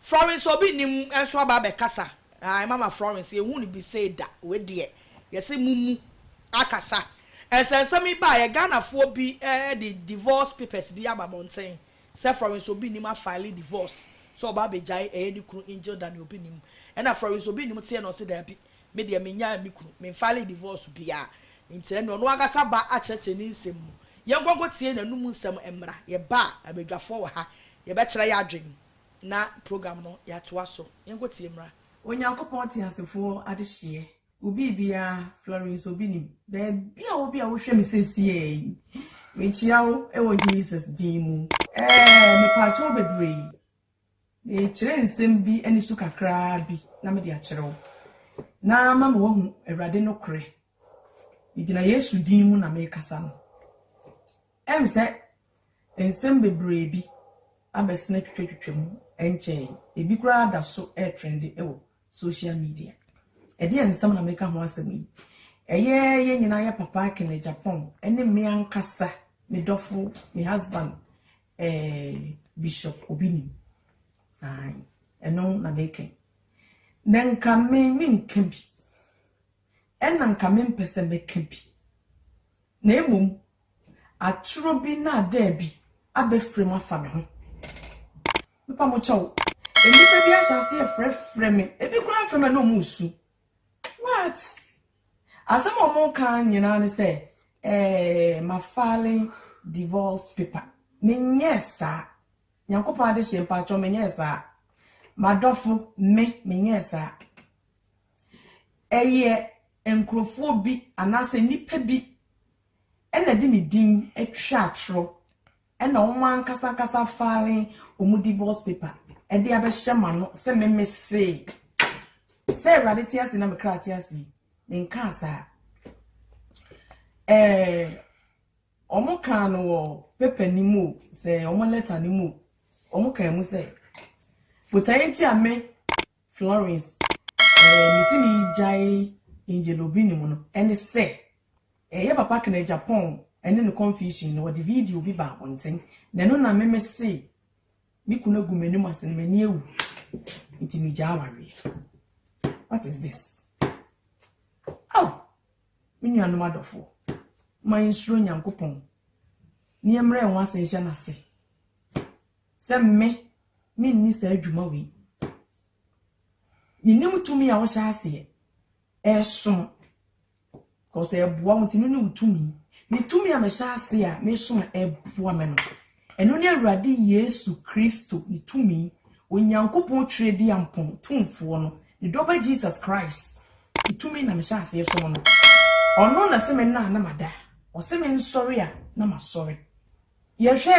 Florence obi nnim nso aba abɛkasa ae mama Florence yɛnhu no bi sei da wei deɛ yɛse momu akasa nsɛnsɛm yi baeɛ Ghanafoɔ bi de divorce papers bi aba abɔnten sɛ Florence obi nnim afile divorce sɛ ɔba abɛgyae ɛyɛ ne kunu Angel Dani obi nnim ɛna Florence obi nnim teɛ na ɔse daabi me deɛ menyaa me kunu me nfile divorce biaa nti ɛneɛ ɔno ankasa ba akyerɛkyerɛ ne nsɛm mu yɛnkɔ nkɔtie n'anum nsɛm mmra yɛba a abadwafoɔ wɔ ha yɛbɛkyerɛ yɛ adwene Na program no yɛatoa so. Yɛnkɔ tie mmra. Onyankopɔn teasefoɔ adehyeɛ wo biribiara Florence obi nim baabi a wo bi a wohwɛ me sesie yi mekyia wo wɔ Jesus din mu ɛɛ mepaakyɛ wo bebree mekyerɛ nsɛm bi ɛne su kakraa bi na mede akyerɛ wo na ama ma wahu awurade no korɛ megyina Yesu din mu na mekasa no ɛm sɛ Nsɛm bebree bi abɛsen atwitwatwitwa mu ɛnkyɛe yi. Ebi koraa da so retrende wɔ social media. Ɛdeɛn nsɛm na meka ho asɛm yi? Ɛyɛ yɛn nyinaa yɛ papa Kenneth Agyapong ne me ankasa me dɔfo, me husband, eh, Bishop Obinim. Ae, ɛno na meka yi. Na nka me menka bi. Ɛna nka mempɛ sɛ mɛka bi. Na mmom atoro bi nnaadaabi abɛfirim afa me ho. Mepa mo kyɛw, nnipa bi ahyɛ aseɛ frɛfrɛ me, ebi koraa frɛ me a na wɔn resu. What? Asɛm a wɔn reka nyinaa ne sɛ, eh, ma file divorce paper. Menyɛɛ saa. Nyankopɔn adehyeɛ mpakyɛw menyɛɛ saa. Madɔfo, me, menyɛɛ saa. Ɛyɛ Nkurɔfoɔ bi anaasɛ nnipa bi na de me din twa atorɔ na wɔn ankasa ankasa file wɔn divorce paper de abɛhyɛ m'ano sɛ me mesee sɛ Awurade te ase na me kra te ase yi, menkaa saa. Ɛɛ, wɔn kaa no wɔ paper no mu o, sɛ wɔn letter no mu o, wɔn kaa mu sɛ, botaeɛ nti a me Florence, eh, me se me gyae Angel Obi ne mu no, ɛne sɛ, eh, yɛ papa kena Japan ɛne ne confusion no, wɔde video bi ba abɔnten, na ɛno na me me se me kunu agu m'anim ase no m'ani awu, nti me gyaa awareɛ. What is this? Oh, me nuanom adɔfoɔ, ma yɛnsuro Nyankopɔn, nneɛmmerɛ ho ase nhyɛ n'ase. sɛ me menni saa dwuma wei. Menim tumi a wohyɛ aseɛ ɛsom because ɛboa wo nti no ne wo tumi. Me tumi a mehyɛ aseɛ a mesom a ɛboa me no, ɛno ne Awurade Yesu Kristo ne tumi, Onyankopɔn Twirediampɔn tumfoɔ no, ne dɔba Jesus Christ ne tumi na mehyɛ aseɛ som no. Ɔno na se me nna a na mada, ɔse me nsɔre a na masɔre. Yɛhwɛ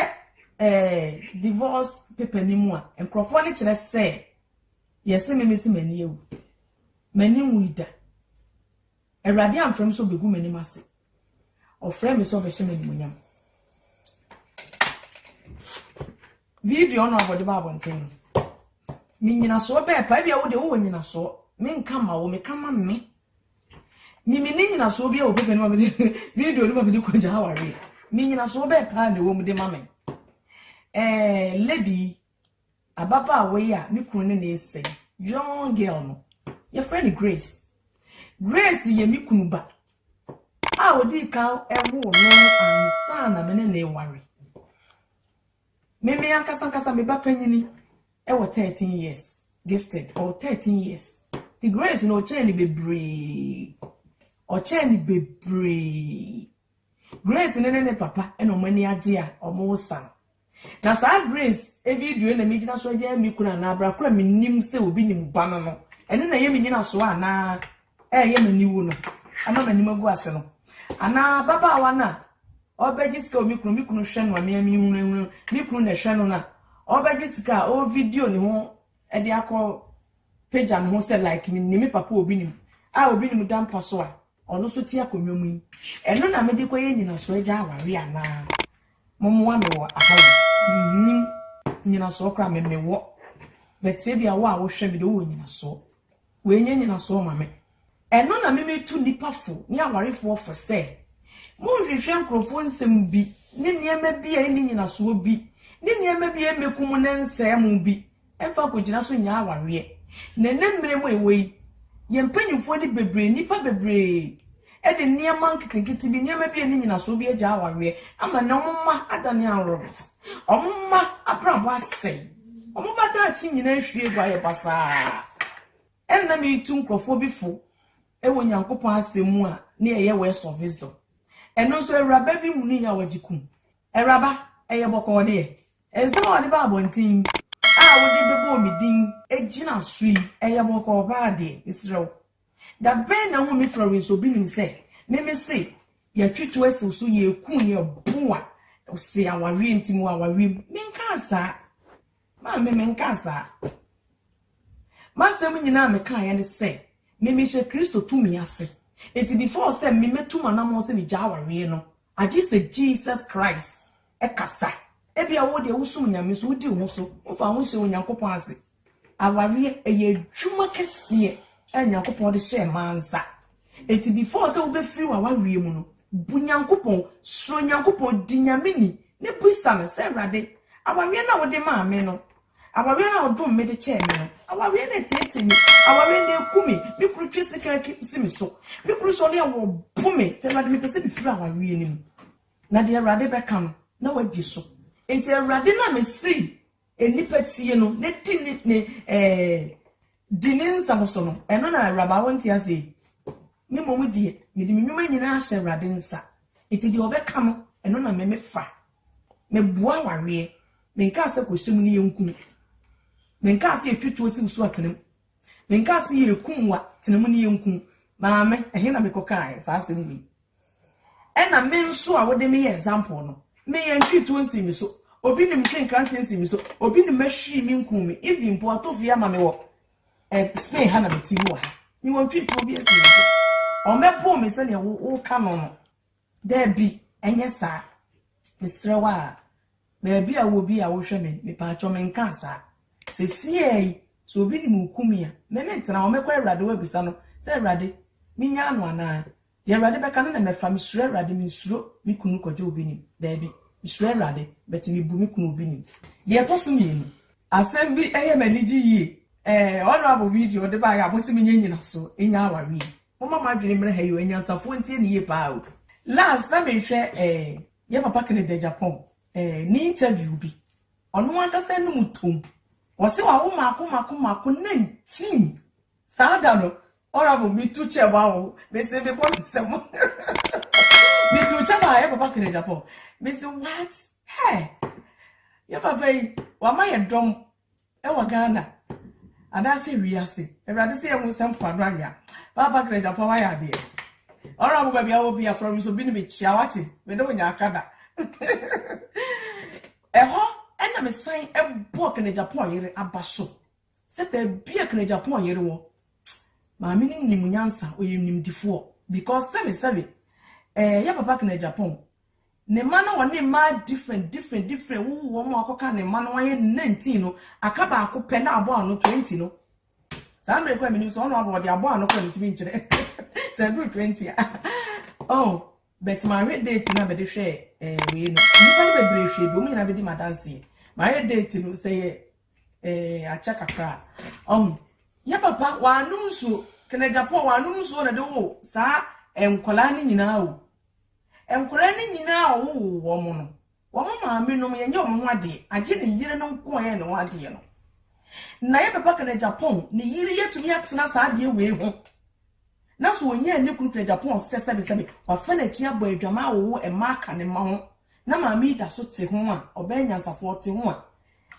ɛɛ divorce paper no mu a, nkorɔfoɔ no kyerɛ sɛ yɛse me mese m'ani awu. M'ani nwui da. Awurade amfrɛ me sɛ ɔbɛgu m'anim ase. Ɔfrɛɛ me sɛ ɔbɛhyɛ me animuonyam. Video no a wɔde ba abɔnten no, me nyinasoɔ bɛɛ pa, ebia wo deɛ wowɔ nyinasoɔ, menka ma wo, meka ma me. Mimi ne nyinasoɔ bi wɔ pɛpɛ no ma mede video no ma mede kɔgya awareɛ. Me nyinasoɔ bɛɛ paa na ɛwɔ mu de ma me. Eh, lady ababaawa yi a ne kunu ne ne sɛ young girl no yɛfrɛ no Grace. Grace yɛ me kunu ba a ɔdii kan ɛwoo no ansa na me ne ne ware. Me me ankasa ankasa me ba panyini wɔ thirteen years gifted ɔwɔ thirteen years ti grace na ɔkyɛn ne bebree ɔkyɛn ne bebree grace ne ne ne papa na wɔn ani agye a wɔn resan na saa grace video na me gyina so agya me kura na abira kura me nim sɛ obi nim ba no no ɛno na ɛyɛ me nyina so a na ɛyɛ me niwu no ama me nim agu ase no ana baba wa na Ɔbɛgye sika o me kunu me kunu hwɛ no a me a mini hunahuna me kunu na ɛhwɛ no no a ɔbɛgye sika a ɔ video ne ho ɛde akɔ pagya ne ho sɛ like me nim me papa a obi nim a obi nim da mpa so a ɔno so te akonnwa mu yi ɛno na mede kɔyɛ nyinasoɔ agya aware anaa momoa me wɔ aha o nim nyinasoɔ koraa me mewɔ bɛteɛ bi a wo a wohwɛ me de wowɔ nyinasoɔ Wei nyɛ nyinasoɔ ma me. Ɛno na me metu nnipa fo ne awarefoɔ fo sɛ, monnhwehwɛ nkurɔfoɔ nsɛm bi ne nneɛma bi a ɛnni nyinasoɔ bi ne nneɛma bi a ɛmmɛku mo ne nsɛe mo bi mmfa nkɔgyina so nyɛ awareɛ. Na ɛnnɛ mmerɛ mu a yɛwɔ yi, yɛn mpanyimfoɔ ne bebree, nnipa bebree, de nneɛma nketenkete bi, nneɛma bi a ɛnni nnyinaso bi agyaa awareɛ ama nnɛ wɔn mma adane anworomes, wɔn mma abrabɔ asɛe, wɔn mma daakye nyinaa ahwie agu ayɛ basaa. Ɛnna meretu nkurɔfoɔ bi fo wɔ Nyankopɔn asɛm mu a ne ɛyɛ words of wisdom. Ɛno nso awuraba bi mu ni a wɔgye kum. Awuraba, ɛyɛ bɔkɔɔ deɛ. Nsɛm a wɔde ba abɔnten a wode bɛbɔɔ me din gyina so yi, ɛyɛ bɔkɔɔ paa deɛ, mesrɛ wo. Da bɛn na wonni Florence obi nim sɛ me me se yɛtwe to asiw so yɛku yɛ bo a se awareɛ nti mu awareɛ mu me nkaa saa maa me me nkaa saa masɛm nyinaa me kaa yɛ ne sɛ me me hyɛ kristo tumi ase eti before sɛ me metu manamɔ sɛ me gya awareɛ no Agye sɛ Jesus Christ kasa. Ebia wo deɛ wosom Nyame nso wodi wo ho so, womfa wo ho nhyɛ Onyankopɔn ase. Awareɛ, ɛyɛ adwuma kɛseɛ a Nyankopɔn de hyɛɛ mmaa nsa. Enti before sɛ wobɛfiri w'awareɛ mu no, bu Nyankopɔn, suro Nyankopɔn, di Nyame ni, ne bisa no sɛ, Awurade, awareɛ no a wode maa me no, Awareɛ a ɔdom me de kyɛɛ me no, awareɛ no ateetee me, awareɛ no aku me, me kunu twe sekan si me so, me kunu sɔre a ɔbo me, nti Awurade mepɛ sɛ mefiri awareɛ no mu. Na deɛ Awurade bɛka no, na wadi so. Nti Awurade no a mesii nnipa tie no na di ne, ne, eh, di ne nsɛm so no, ɛno na awuraba wonte ase yi? Me mmom deɛ, mede me nnwuma nyinaa ahyɛ Awurade nsa, nti deɛ ɔbɛka no, ɛno na me mefa. Meboa awareɛ. Menkaa sɛ kɔhyɛ mu ne yɛnku mu. Menkaa sɛ yɛtwe tuo siw so a tena mu. Menkaa sɛ yɛrekum wo a tena mu ne yɛnku mu. Maame, ɛhe na mekɔkaeɛ saa asɛm wei? Ɛna me nso a wode me yɛ example no, me yɛntwee tuo nsii me so, obi nim ntwee nkrantɛ nsii me so, obi nim mahwiri me nkuu me, even mpo ato fie ama me wɔ eh, Spain ha na mete mu wɔ ha. Mewɔ ntwee tuo bi nsii me so. Ɔmmɛpoo me sɛdeɛ woka no no. Dabi, ɛnyɛ saa. Mesrɛ wo a, baabi a wowɔ bi a wohwɛ me, mepaakyɛw menkaa saa. Sesiei yi, sɛ obi nim wo Kumi a, me mentena hɔ, mɛkɔ Awurade hɔ abisa no sɛ, Awurade, minyaa no anaa? Deɛ Awurade bɛka no na mɛfa, mesuro Awurade, mensuro me kunu Kwadwo obi nim, dabi, mesuro Awurade, but mebu me kunu obi nim. Deɛ ɛtɔ so mmienu. Asɛm bi yɛ m'anigye yie, eh, honourable video wode baeɛ a mose menyɛ nnyinasoɔ, ɛnya awareɛ yi. Momma mo adwene mmra ha yi o, anyansafoɔ ntie no yie paa o. Last na mehwɛ eh yɛ papa Kennedy Agyapong eh ne interview bi, ɔno ankasa anum tom, ɔse wawo mako mako mako na ntim. Saa da no Oravo metu kyɛm a o, mese mebɔ no nsam metu kyɛm a yɛ papa Kennedy Agyapong, mese what hey yɛ papa yi wama yɛ dɔm Ɛwɔ Ghana anaasɛ wiase. Awurade sɛ yɛhu sɛ mpoano anwea. Papa Craig Apaw ayɛ adeɛ. Honourable baabi a wɔ bia frɛ me nso bi ne me kyia wate. Me ne wo nya aka da. Ɛhɔ ɛna me san ɛbɔɔ Craig Apaw yere aba so. Sɛ baabi a Craig Apaw yere wɔ. Maame no nim nyansa ɔyɛ nimdifoɔ because sɛbe sɛbe ɛɛ yɛ papa Craig Apaw Ne mma no wɔ ne mma different different different wowo wɔn ma wɔkɔka ne mma no ayɛ nineteen no aka baako pɛ na abɔ ano twenty no saa mmerɛ kura menim sɛ ɔno abɔ ɔde abɔ ano kura metumi nkyerɛ sɛ ɛduru twenty a oh bɛt mahwɛ date no a bɛde hwɛ eh, wei no nnipa no bebree hwɛ bi wɔn nyinaa bɛdi madanseɛ mahwɛ date no sɛ yɛ eh, akyɛ kakra a ɔho oh, yɛ papa wɔanom nsuo kɛnɛ japan wɔanom nsuo na de wo saa eh, nkwadaa no nyinaa o Nkwadaa no nyinaa a wɔwoo wɔn no, wɔn maamenom yɛnyɛ wɔn ho adeɛ, agye ne yere no nko a yɛyɛ ne ho adeɛ no. Na yɛ papa kana Japan, ne yere yɛtumi atena saa adeɛ wei ho. Na so ɔnyɛ ne kunu kana Japan sɛ sɛbesɛbe, wafa n'akyi abɔ adwaman awowo mma aka ne mma ho. Na maame yi da so te ho a, ɔbɛyɛ nyansafoɔ te ho a,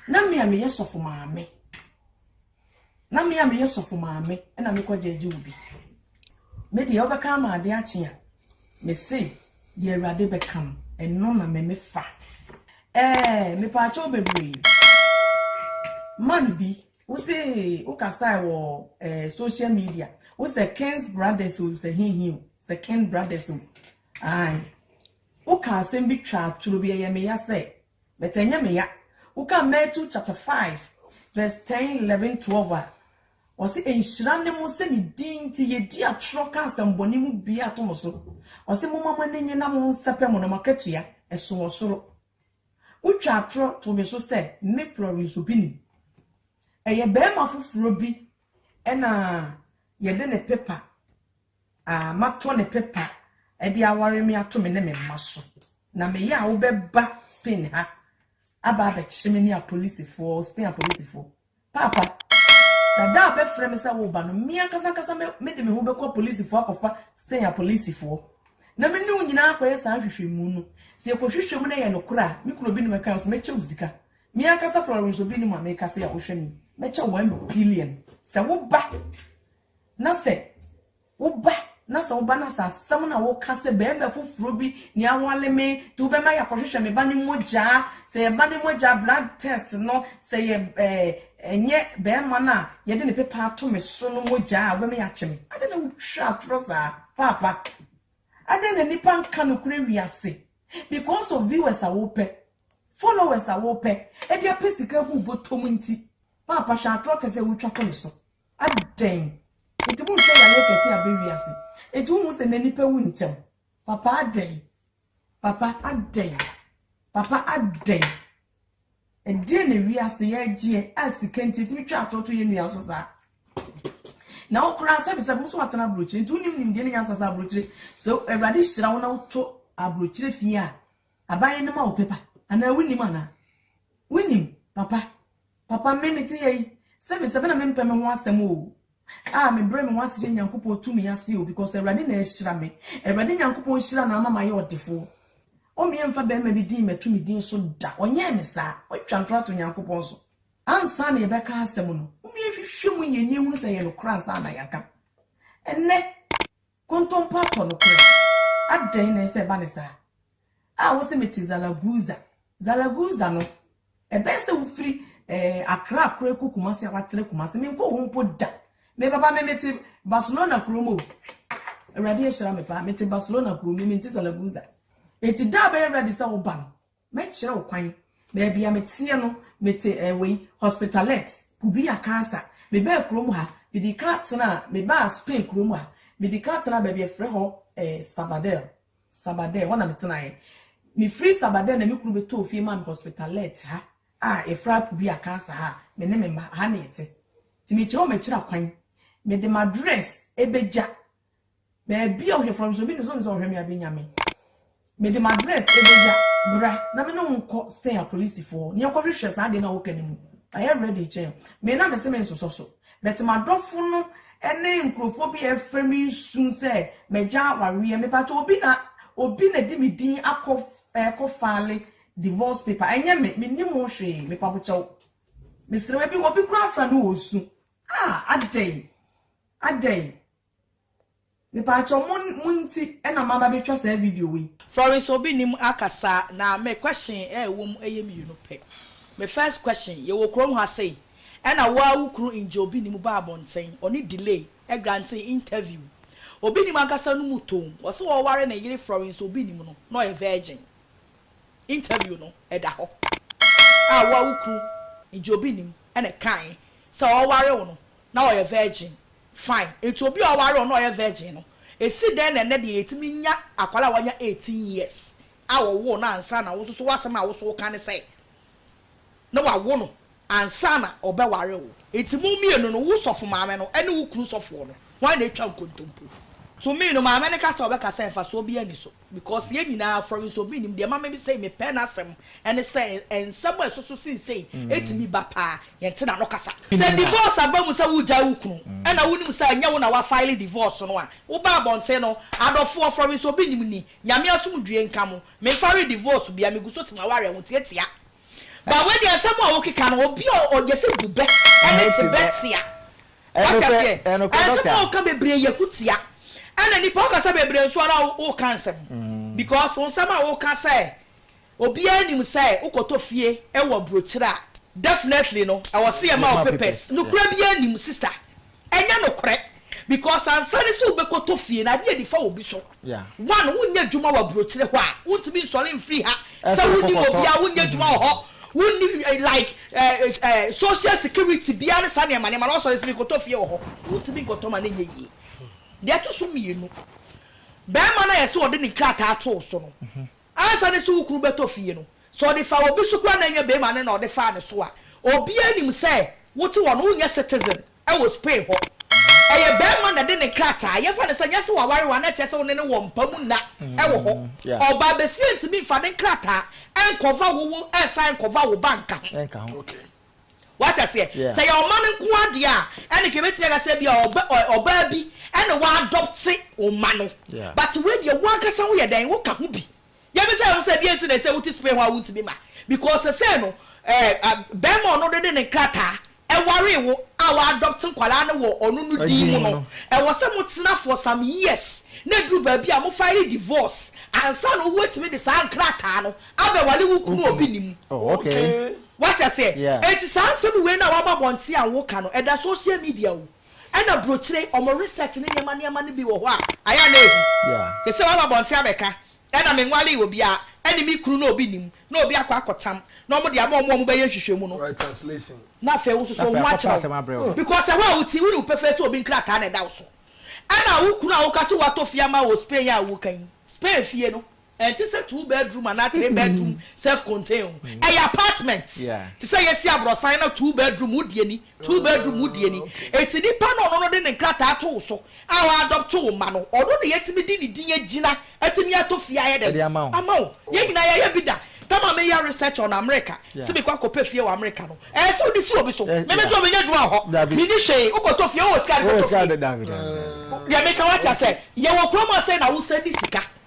na me a meyɛ sɔfo maame, na me a meyɛ sɔfo maame na mekɔ gyɛɛgye wo bi me deɛ wobɛka ama ade akye a mese deɛ awurade bɛka no ɛno na me mefa ɛɛ mepaakyɛw bebree man bi wose wokasae wɔ ɛɛ social media wosɛ kings brothers o sɛ hehe o sɛ king brothers o ae woka asɛm bi twa atoro bi ɛyɛ meya sɛ But ɛnyɛ me ya. Wokan Matthew chapter five verse ten, eleven, twelve a, ɔse nhyira ne mo sɛ ne din nti yɛdi atorɔ ka asɛmbɔne mu biaa to mo so. Ɔse momma mo ani nye na mo nsɛpɛ mo na mo akatua ɛso wɔ soro. Wo twa atorɔ to me so sɛ me Florence Obinim. Ɛyɛ bɛɛma foforɔ bi ɛna yɛde ne pepa a matɔ ne pepa de aware me ato me ne me mma so, na meyɛ a wobɛba Spain ha aba abɛkye me ne apolisifoɔ, Spain apolisifoɔ. Paapa, sɛ da a bɛfrɛ me sɛ woba no, me ankasa ankasa mede me ho bɛkɔ apolisifoɔ akɔfa Spain apolisifoɔ. Na me ne wo nyinaa akɔyɛ saa nhwehwɛmu no. Sɛ yɛkɔhwehwɛ mu na yɛ nokorɛ a, me kura obi ne mɛka sɛ mɛkyɛ wo sika. Me ankasa Florence obi ne mu a meka sɛ a wohwɛ me, mɛkyɛ wo one billion sɛ woba. na sɛ woba na sɛ woba na sɛ asɛm na woka sɛ bɛrima foforɔ bi ne awale me nti wobɛma yɛakɔhwehwɛ me ba ne mogyaa sɛ yɛba ne mogyaa blood test no sɛ yɛ ɛɛ ɛnyɛ bɛrima no a yɛde ne pepa ato me so no mogyaa a wobɛma yɛakye me adɛn na wotwa atorɔ saa paapa adɛn na nnipa nka nokorɛ wiase because of viewers a wopɛ followers a wopɛ ɛde apɛ sika gu bɔtɔm nti paapa hwɛ atorɔ kɛsɛ wotwa to me so Adɛn nti monhwɛ yareɛ kɛseɛ a abɛ wiase? Enti wonhu sɛ nnɛ nnipa wu ntɛm? Papa adɛn? Papa adɛn? Papa adɛn? Ɛdeɛn na wiase yɛregyeɛ a sika nti ɛtumi twa atoto yɛn nua so saa? Na wo koraa sɛbisɛbi wo so atena aburokyire nti wonim nimdeɛ ne nyansa sɛ aburokyire sɛ Awurade hyira wo na woto aburokyire fie a abayɛ no ma wo pepa anaa wonim anaa? Wonim papa? Papa me mete yɛ yi sɛbe sɛbe na me mpɛ me ho asɛm oo ah me brɛ me ho ase hyɛ Nyankopɔn tumi ase oo because Awurade na ahyira me Awurade Nyankopɔn nhyira na ama mayɛ ɔdefoɔ o me ɛmfa bɛɛma bi din mɛto ne din so da ɔnyɛɛ me saa watwa ntorɔ ato Nyankopɔn so ansa na yɛbɛka asɛm no momyɛ nhwehwɛ mu nyɛ nie hunu sɛ ɛyɛ nokorɛ ansa na yɛaka ɛnɛ Kontompo atɔ no koraa. Adɛn na ɛsɛ sɛ ɛba no saa? A wose mete Zaragoza. Zaragoza no, ɛbɛyɛ sɛ wofiri eh, Accra koraa ɛkɔ Kumasi a watrɛ Kumasi. Menkɔɔ hɔ mpo da. Me papa me mete Barcelona kurom o. Awurade ahyira me paa. Mete Barcelona kurom, me mente Zaragoza. Enti da a bɛyɛ ready sɛ woba no, Mɛkyerɛ wo kwan. Baabi a meteɛ no, mete eh, wei, Hospitalet, Pubia, Cancer. Mebaa kurom ha, mede kan tenaa, mebaa Spain kurom ha, mede kan tenaa baabi a yɛfrɛ hɔ eh, Sabadell. Sabadell, hɔ na metenaeɛ. Mefiri Sabadell na me kunu bɛtɔɔ fie maa me Hospitalet ha a yɛfrɛ ha Pubia, Cancer ha a me ne me mma, ha na yɛte. Nti mekyerɛ wo m'akyiri akwan. Mede m'address bɛgya Baabi a ɔhwɛ fam nso, obi nim sɛ ɔnim sɛ ɔhwɛ me a, benya me. Mede m'address bɛgya, bra na me ne wo nkɔ Spain apolisifoɔ, na yɛnkɔhwehwɛ saa adeɛ no a woka no mu. Mayɛ ready kyɛn wo. Me na mese mensosɔ so. But m'adɔfo no ne nkurɔfoɔ bi a ɛrefrɛ me nsu sɛ magya awareɛ. Mepakyɛ obi na obi na ɛde me din akɔ ɛkɔ file divorce paper. Ɛnyɛ me, mennim ho hwee. Mepabokyɛw. Mesrɛ wo, ebi obi koraa afra no wɔ osu. Ah, adɛn? Adɛn? Mepaakyɛw mo mo nti na maba betwa saa video yi. Florence obi nim akasa na me question a ɛwɔ mu ɛyɛ mmienu pɛ. Me first question, yɛwɔ kurom ha sei ɛna wo ara wo kunu ngye obi nim ba abɔnten, ɔne delay ɛgrantee interview. Obi nim ankasa no mu toom, ɔse ɔware ne yere Florence obi nim no na ɔyɛ virgin. Interview no ɛda hɔ a wo ara wo kunu ngye obi nim ɛna ɛkae sɛ ɔware wo no, na ɔyɛ virgin fine nti obi a ɔware wɔn na ɔyɛ virgin no esi dɛn na ɛnɛ deɛ yɛtumi nya akwadaa a wanya eighteen years a wɔwoo no ansa na wo nso so w'asɛm a wo so woka ne sɛ na wawo no ansa na ɔbɛware wo nti mo mmienu no wo sɔfo maame no ɛne wo kunu sɔfoɔ no hwan na atwa nkontompo to me no maame no ka sɛ ɔbɛka sɛ mfasoɔ biara nni so. Because yɛn nyinaa fɔre nso obi nnim deɛ ɛma me sei mepɛ n'asɛm ɛne sɛ nsɛm a ɛsoso sen sei ɛtumi ba paa yɛnte n'ano kasa. Sɛ divorce aba mu sɛ wogyae wo kunu ɛna wonim sɛ ɛnyɛ wo na wa file divorce no a woba abɔnten no adɔfoɔ fɔre nso obi nnim ni Nyame asomdwie nka mo memfare divorce bia meguso te m'awareɛ ho tiatia But wei deɛ nsɛm a wokeka no obi a ɔyɛ sɛ bu bɛ ɛne te bɛ tia wate aseɛ ɛnsɛm a woka bebree yɛ ku tia ɛna nipa wokasa bebree nso ara woka nsɛm because wo nsɛm a woka sɛ obiara nim sɛ wokɔtɔ fie ɛwɔ aburokyire a definitely no ɛwɔ se yɛma wo papers nokorɛ biara nim sister Ɛnyɛ nokorɛ because ansa ne sɛ wobɛkɔtɔ fie no adeɛ nifa wɔ bi so one wonyɛ adwuma wɔ abrokyire hɔ a wontumi nsɔre mfiri ha sɛ wonim obiara wonyɛ adwuma wɔ hɔ wonni like social security biara ne saa nneɛma nneɛma no wasɔre sɛ mekɔtɔ fie wɔ hɔ wontumi nkɔtɔ ma no nyɛ yie deɛ ɛto so mmienu bɛrima no a yɛse wɔde ne nkrataa too so no Ansa ne se wo kunu bɛtɔ fie no, sɛ ɔde faa obi so koraa na ɛnyɛ barima no na ɔde faa ne so a, obiara nim sɛ wote hɔ no wonyɛ citizen wɔ Spain hɔ. Ɛyɛ barima na ɛde ne nkrataa, yɛmfa no sɛ nyɛ sɛ waware wo a na ɛkyerɛ sɛ wo ne no wɔ mpa mu nna wɔ hɔ. Ɔbaa basia ntumi mfa ne nkrataa nkɔva wo wo ɛsan nkɔva wo ba nka ho. Wate aseɛ? Sɛ ɛyɛ ɔma no nko ara deɛ a, ɛnneɛ yɛbɛtumi aka sɛ ebia ɔba, ɔ, ɔbaa bi na wadɔpte wo mma no. But wei deɛ, wo ankasa woyɛ dɛn? Woka ho bi. Deɛ ɛbɛsɛ sɛ wohu sɛ, deɛ nti na ɛsɛ sɛ wote Spain hɔ a wontumi ma? Because seesei no, ɛɛ, a, barima a ɔno de de ne nkrataa waree wo a wadɔpte nkwadaa no wɔ ɔno no din mu no, ɛwɔ sɛ motena for some years na ɛduru baabi a mo file divorce ansa na ɔwuatumi de saa nkrataa no Abɛ wale wo kunu a obi nim. Oh okay. Wate aseɛ? Yeah. Enti saa nsɛm wei no a waba abɔnten a woka no, ɛda social media o, ɛna brokyire, wɔn research ne nneɛma nneɛma no bi wɔ hɔ a, ayɛ a na ɛhu. Yeah. Te sɛ waba abɔnten abɛka, ɛna menwalee obiara, ɛne me kunu no a obi nim, na obi akɔ akɔtam, na wɔde ama wɔn a wɔbɛyɛ nhwehwɛmu no. Right translation. Na afei wo nso so wɔn akyerɛ wo. Because ɛhɔ a wote, wonim pefee sɛ obi nkrataa na ɛda wo so. Ɛna wo kunu a woka sɛ watɔ fie ama wɔ Spain a woka yi, Spain fie no, Ɛnte sɛ two bedroom anaa three bedroom self contain o, ɛyɛ apartment. Te sɛ yɛsi abrɔsan na two bedroom wo deɛ ni, two bedroom wo deɛ ni. Enti nipa no ɔno no de ne nkrataa to wo so a wa adɔpto wo mma no, ɔno na yɛtumi de ne din agyina atumi atɔ fie ayɛ dɛn? Ama wo. Yɛn nyinaa yɛyɛ bi da. Tam a meyɛ research on America sɛ mekɔ akɔpɛ fie wɔ America no, ɛyɛ sɛ wode si obi so. Me me deɛ menya adwuma wɔ hɔ, menni hwee. Wo kɔtɔ fie, wowɔ sika de bɛtɔ fie. Deɛ meka wate aseɛ? Yɛwɔ kurom ha sei na wo sɛndi sika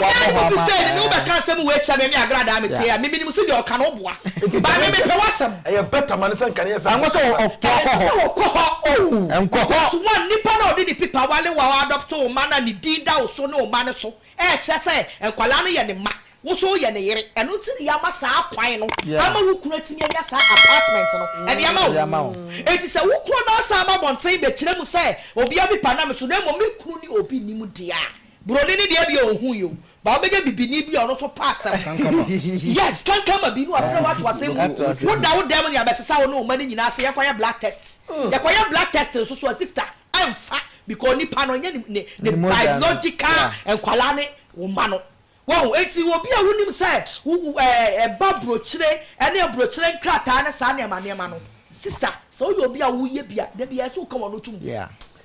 Ɔbaa no bubu sɛ, Mene wo bɛka asɛm wei kyerɛ me ne Agra daa me teɛ a, me menim so deɛ ɔka no boa, but me mepɛ w'asɛm. Ɛyɛ better ma no sɛ nka ne yɛ sɛ Ɛnsɛ sɛ ɔkɔ hɔ. Ɛnsɛ sɛ ɔkɔ hɔ. Nkɔ hɔ. Because one, nipa no a ɔde ne pipa wale wo a wa adopto wo mma no a ne din da wo so ne wo mma no so, ɛkyerɛ sɛ nkwadaa no yɛ ne mma, wo nso wo yɛ ne yere. Ɛno nti na yama saa kwan no ama wo kunu atumi anya saa apartment no ɛde ama wo. Enti sɛ wo kunu no asan aba abɔnten bɛkyerɛ mu sɛ obiara pipa nam me so na mmom me kunu ne obi nnim deɛ a, Buroni no deɛ ɛdeɛ ɔnhu yɛ o but wobɛnya bibini bi a ɔno nso pɛ asɛm. Kankama. Yes kankama bi ne wabrɛ wo ato asɛm mu. Woda wo dan mu ne abɛsesa wo ne wo mma no nyinaa sɛ yɛnkɔyɛ blood test. Yɛkɔyɛ blood test nso so a sister ɛmfa because nipa no ɛnyɛ ne ne biological nkwadaa ne wo mma no. Wahu? Enti obi a wonim sɛ wo wo ɛɛ ɛba burokyire ɛne aburokyire nkrataa ne saa nneɛma nneɛma no sister sɛ woyɛ obi a woyɛ bi a dabiara ɛsɛ woka w'ano to mu.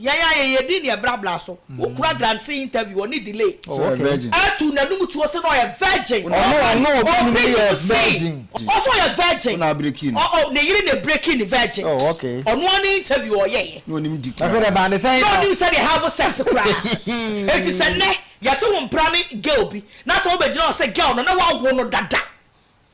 Yɛn ayɛyɛde ne ɛbrabra so. Wo kura Grancy interview ɔne delay. Oh okay. Atu nanum tuo se na ɔyɛ virgin. Ɔno ɔno obi num ne yɛ virgin. Ɔse ɔyɛ virgin. Wona abreaking no. Oh oh ne yere na ebreaking ne virgin. Oh okay. Ɔno ara ne interview ɔyɛ yɛ. Na onim di kura. Afei de ɛbaa ne sɛn. Na onim sɛdeɛ have sex koraa. Enti sɛ nnɛ yɛse wo mpra ne girl bi na sɛ wobɛgyina hɔ sɛ girl no na wawo no dada.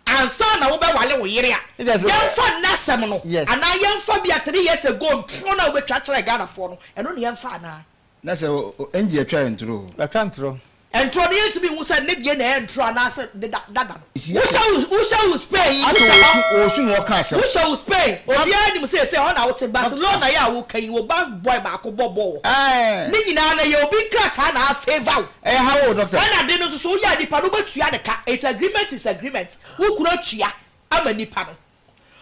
ansa na wobɛwale wo yere a, yɛmfa nnɛ asɛm no anaa yɛmfa bi a three years ago ntorɔ no a wobɛtwa kyerɛɛ Ghanafoɔ no, ɛno na yɛmfa anaa? Na sɛ Angie atwa yɛ ntorɔ o? Atwa ntorɔ. Ntorɔ no yɛntumi nhu sɛ ne deɛ na ɛyɛ ntorɔ anaasɛ ne dada no. Wohyɛ wo wohyɛ wo Spain yi wohyɛ hɔ. Ato wo su na wɔka asɛm. Wohyɛ wo Spain obiara nim sɛ ɛsɛ hɔ na wote Barcelona yi a woka yi wo ba boy baako bɔ bɔɔl hɔ. Ne nyinaa no ɛyɛ obi nkrataa na a favour wo. Ɛyɛ haw o doctor. Saa na de no nso so woyɛ a nipa no wobɛtua ne ka it's agreement is agreement wo kunu atua ama nipa no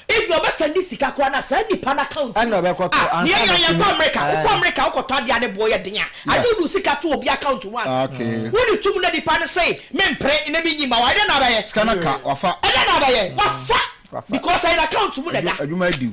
even ɔbɛ sɛnde sika koraa no a saa nipa no account mu Ɛna ɔbɛkɔ tɔ ah ansa na yɛn kɔ sini. America wokɔ Ɛɛ. America wokɔtɔ adeɛ a ne boɔ yɛ den a Ah. agye wode wo sika to obi account mu ansa Okay. wode tom na nipa no se mempere na menyi mma wo a ɛdɛn na abɛyɛ Sika no aka wafa. ɛdɛn na abɛyɛ wafa Wafa. because ɛyɛ n'account mu na ɛda. Adwuma adwuma adi wo.